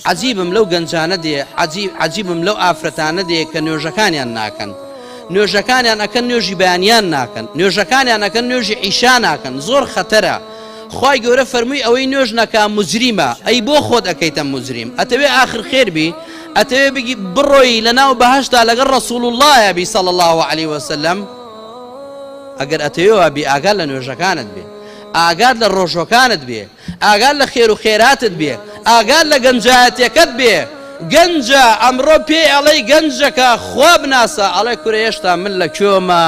عەجیبم لەو گەنجانە دێ عەجیب عەجیبم لەو ئافرەتانە دێ کە نوێژەکانیان ناکەن نوێژەکانیان ئەکەن نوێژی بەیانیان ناکەن نوێژەکانیان ئەکەن نوێژی عیشا ناکەن زۆر خەتەرە خی گەورە فەرمووی ئەوەی نوێژ نەکە مجریمە ئەی بۆ خۆت ئەەکەیتە مجریم ئەتەوێ آخر خێربی ئەتەوێ بگی بڕۆی لە ناو بەهشتا لەگەڵ ڕسول اللهە بی سەڵ الله عليه وسلم ئەگەر ئەتەوێ بی ئاگار لە نوێژەکانت بێ ئاگات لە ڕۆژەکانت بێ ئاگات لە خێر و خێراتت بێ ئاگات لە گەنجایەتیەکەت بێ گەنجە ئەمڕۆ پێی ئەڵێی گەنجەکە خوا بناسە ئەڵێ کورە هێشتا من لە کوێمە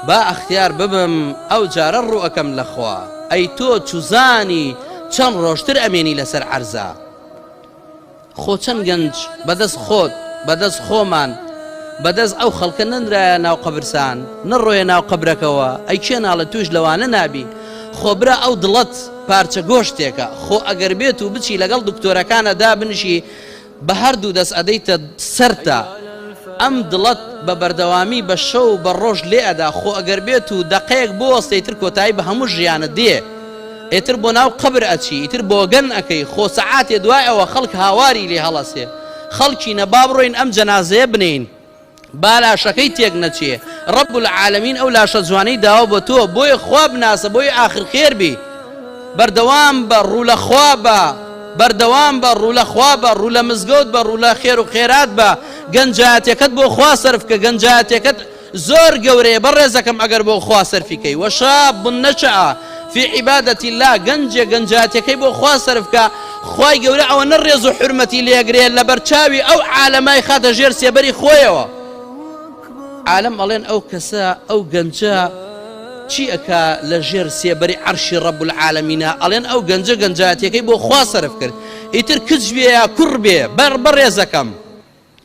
با ئەختیار ببم ئەو جارە ڕوو ئەکەم لە خوا ئەی تۆ چوزانی چەند ڕۆژتر ئەمێنی لەسەر عەرزا خۆ چەند گەنج بەدەست خۆت بەدەست خۆمان بەدەست ئەو خەڵکە نەنرایە ناو قەبرسان نەڕۆیە ناو قەبرەکەوە ئەی کێ ناڵێ توش لەوانە نابی خۆ برا ئەو دڵەت پارچە گۆشتێکە خۆ ئەگەر بێت و بچی لەگەڵ دکتۆرەکانە دابنشی بە هەردوو دەست ئەدەیتە سەرتا ئەم دڵەت بە بەردەوامی بە شەو بە ڕۆژ لێ ئەدا خۆ ئەگەر بێت و دەقەیەک بۆ وەستەی تر کۆتایی بە هەموو ژیانت دێ. ئیتر بۆ ناو قەبر ئەچی ئیتر بۆگەن ئەکەی خۆ سەعاتێ دوای ئەوە خەڵک هاواری لێ هەڵەسێ خەڵکینە با بڕۆین ئەم جەنازەیە بنێین با لاشەکەی تێک نەچێ رب العالمین ئەو لاشە جوانەی داوە بۆ تۆ بۆیە خوا بناسە بۆی ئاخر خێر بی بەردەوام بە ڕوو لە خوا بە بەردەوام بە ڕوو لە خوا بە ڕوو لە مزگەوت بە ڕوو لە خێر و خێرات بە گەنجاتەکەت بۆ خوا سەرف کە گەنجاتەکەت زۆر گەورەیە بەڕێزەکەم ئەگەر بۆ خوا سەرفی کەی وشاب نشئ فی عبادە اللە گەنجێک گەنجاتیەکەی بۆ خوا سەرف کا خوای گەورە ئەوەنە ڕێز و حورمەتی لێگرێ لەبەرچاوی ئەو عالەمای خاتە ژێر سێبەری خۆیەوە عالەم ئەڵێن ئەو کەسە ئەو گەنجە چی ئەکا لە ژێر سێبەری عەرشی ڕەب العالەمینە ئەڵێن ئەو گەنجە گەنجاتیەکەی بۆ خوا سەرف کرد ئیتر کچ بێ یا کوڕ بێ بەر بەڕێزەکەم